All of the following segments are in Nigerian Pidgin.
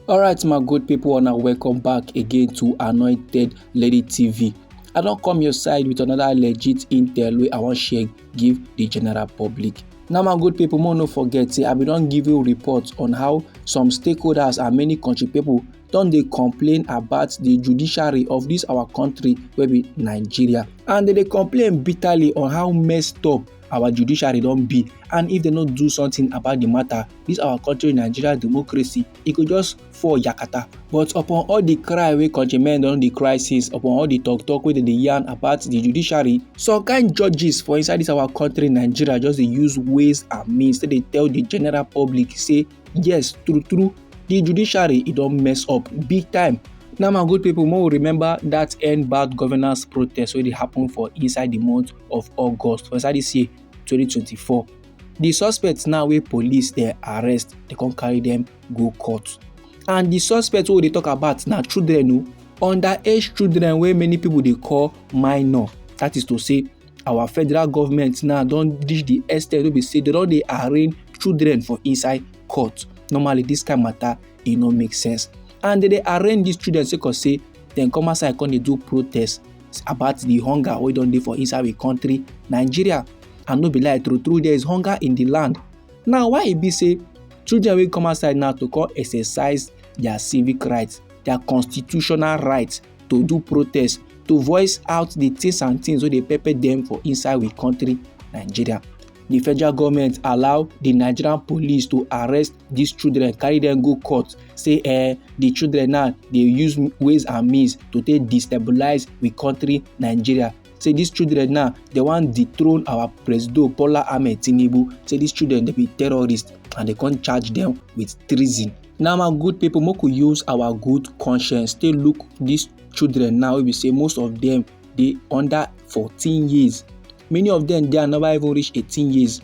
alright my good people and welcome back again to anointed lady tv i don come your side with another legit intel wey i wan share give the general public now my good people more no forget say i bin don give you report on how some stakeholders and many country people don dey complain about the judiciary of this our country wey be nigeria and dem dey complain bitterly on how messed up our judiciary don be and if dem no do something about the matter this our country nigeria democracy e go just fall yakata but upon all the cry wey countrymen don dey cry since upon all the talk talk wey dem dey yarn about the judiciary some kind judges for inside this our country nigeria just dey use ways and means take dey tell the general public say yes true true the judiciary e don mess up big time now my good people more remember that end bad governance protest wey dey happen for inside the month of august for inside this year 2024 the suspects now wey police dey arrest dey come carry them go court and the suspects wey we dey talk about na children o underage children wey many people dey call minor that is to say our federal government now don reach the extent wey be say they don dey arraign children for inside court normally this kind matter e no make sense and they dey arraign these children sake of say dem come outside come dey do protest about the hunger wey don dey for inside the country nigeria and no be lie true true there is hunger in the land now why e be say children wey come outside now to come exercise their civic rights their constitutional rights to do protest to voice out the things and things wey dey pepper dem for inside we country nigeria the federal government allow the nigerian police to arrest these children carry them go court say eh the children now dey use ways and means to take destabilize we country nigeria say these children now they wan dethrone our presido bola ahmed tinubu say these children dey be terrorists and they come charge them with treason now my good people make we use our good conscience take look these children now wey be say most of them dey under 14 years many of them dey never even reach 18 years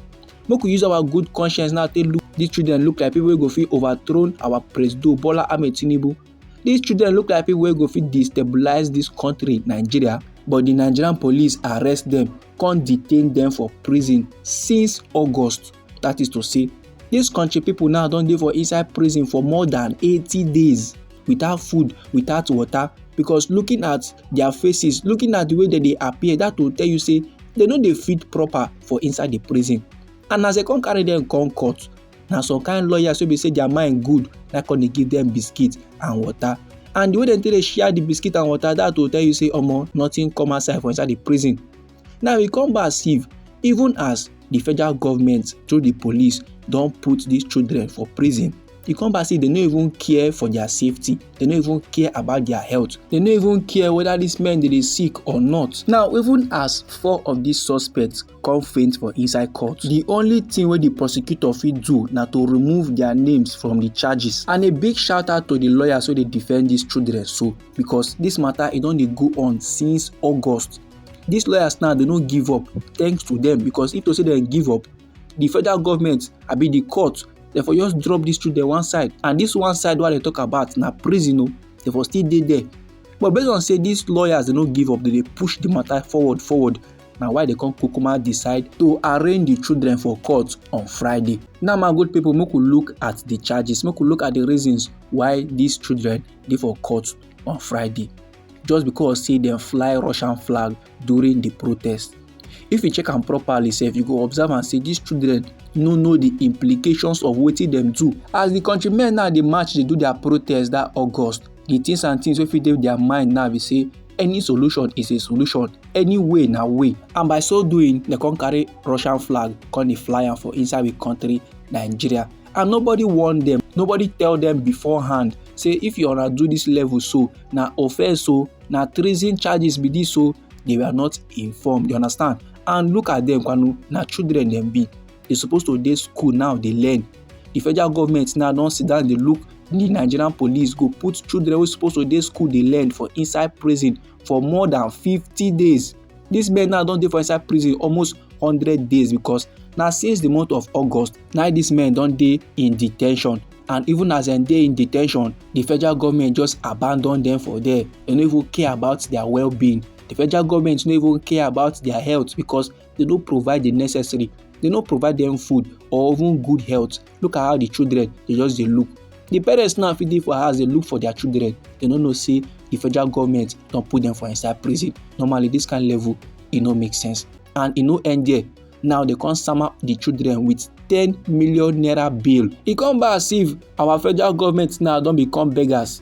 make we use our good conscience now take look these children look like people wey go fit overthrow our presido bola ahmed tinubu These children look like people wey go fit destabilize this country Nigeria but the Nigerian police arrest them, come detain them for prison since August that is to say This country people now don dey for inside prison for more than 80 days without food without water because looking at their faces looking at the way dem dey appear that will tell you say dem no dey fit proper for inside the prison and as dem come carry dem come court na some kind lawyers wey be say their mind good na come dey give them biscuit and water and the way dem take dey share the biscuit and water that will tell you say omo nothing come outside for inside the prison now e come back see even as the federal government through the police don put these children for prison e come back say they no even care for their safety they no even care about their health they no even care whether these men dey dey sick or not now even as four of these suspects come faint for inside court di only thing wey di prosecutor fit do na to remove dia names from di charges and a big shout out to di lawyers wey dey defend dis children so because dis matter e don dey go on since august dis lawyers now dey no give up thanks to dem because if to say dem give up di federal government abi di court dem for just drop dis children one side and dis one side wey i dey talk about na prison o dem for still dey there but based on say dis lawyers dey no give up dem dey push di matter forward forward na why they come kukuma decide to arraign the children for court on friday now my good people make we look at the charges make we look at the reasons why these children dey for court on friday just because say dem fly russian flag during the protest if you check am properly sef you go observe am say these children no know the implications of wetin dem do as the countrymen now dey march dey do their protest that august the things and things wey fit dey their mind now be say any solution is a solution any way na way and by so doing dem come carry russian flag come dey fly am for inside we country nigeria and nobody warn them nobody tell them beforehand say if you wanna do this level so na offense so oh, na treason charges be this so oh, they were not informed you understand and look at them kwanu na children dem be dey suppose to dey school now dey learn the federal government now don sit down dey look the nigerian police go put children wey suppose to dey school dey learn for inside prison for more than fifty days these men now don dey for inside prison almost hundred days because na since the month of august na these men don dey in de ten tion and even as dem dey in de ten tion the federal government just abandon them for there dem no even care about their well-being the federal government no even care about their health because they no provide the necessary they no provide them food or even good health look at how the children dey just dey look the parents now fit dey for house dey look for their children they no know say the federal government don put them for inside prison normally this kind level e no make sense and e no end there now they come sama the children with ten million naira bill e come be as if our federal government now don become beggars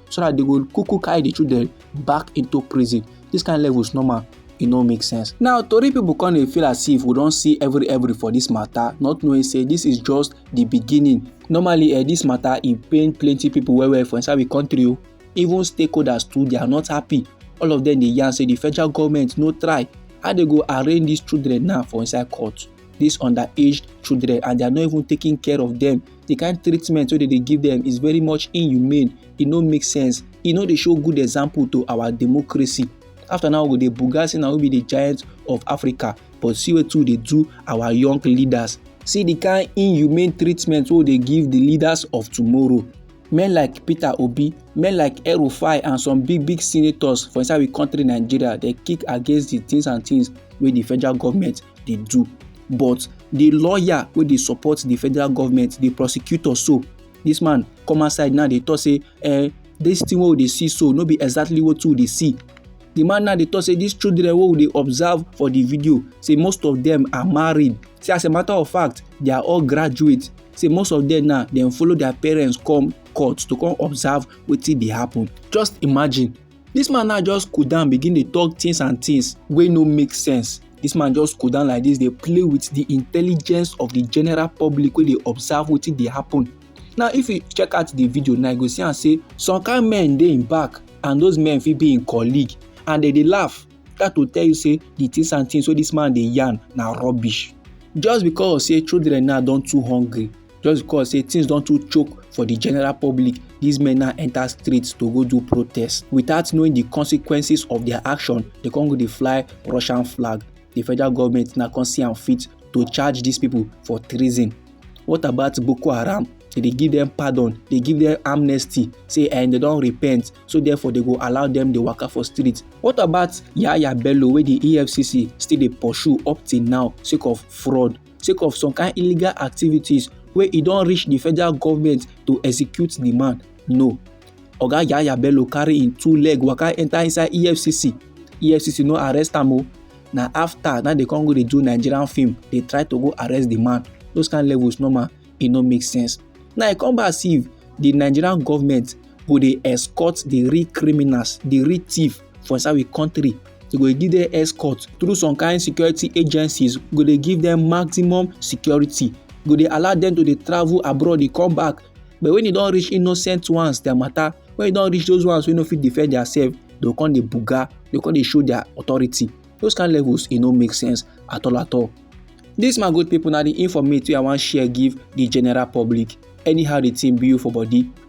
so that they go kuku carry the children back into prison this kind level is normal e no make sense. now tori pipo come dey feel as if we don see every every for dis mata not knowing say dis is just di beginning normally eh, dis mata e pain plenty pipo well well for inside di kontri o oh. even stakeholders too they are not happy all of dem dey yarn say di federal goment no try how dey go arraign dis children now for inside court dis underaged children and they are not even taking care of dem the kind treatment wey dem dey give them is very much inhumane e no make sense e no dey show good example to our democracy after now we go dey buga say na we be the giant of africa but see wetin we dey do our young leaders see the kind inhumane treatment wey we dey give the leaders of tomorrow men like peter obi men like erufai and some big big senators for inside we country nigeria dey kick against the things and things wey the federal government dey do but the lawyer wey dey support the federal government the prosecutor so this man come outside now dey talk say eh this thing wey we dey see so no be exactly wetin we dey see the man now dey talk say these children wey we dey observe for the video say most of them are married say as a matter of fact they are all graduates say most of them now dem follow their parents come court to come observe wetin dey happen just imagine This man now just cool down begin dey talk things and things wey no make sense. This man just cool down like this dey play with the intelligence of the general public wey dey observe wetin dey happen. Now if you check out the video now you go see am say some kind men dey im back and those men fit be im colleague and dem dey laugh that will tell you say the things and things wey this man dey yarn na rubbish just because say children now don too hungry just because say things don too choke for the general public these men now enter streets to go do protest without knowing the consequences of their action they come go dey fly russian flag the federal government now come see am fit to charge these people for treason what about boko haram they dey give them pardon they give them amnesty say and eh, they don repent so therefore they go allow them dey waka for street what about yaya bello wey the efcc still dey pursue up till now sake of fraud sake of some kind illegal activities wey e don reach di federal government to execute di man no oga yahaya bello carry im two leg waka enta inside efcc efcc no arrest am o na afta na dey come go dey do nigerian film dey try to go arrest di man those kind levels normal e no make sense now e come back see di nigerian government go dey escort di real criminals di real thief for inside we country they go give them escort through some kind security agencies go dey give them maximum security go dey allow them to dey travel abroad dey come back but when e don reach innocent ones their matter when e don reach those ones wey no fit defend theirself they go come dey buga they go come dey show their authority those kind levels e no make sense at all at all this my good people na the informate wey i wan share give the general public anyhow the thing be you for body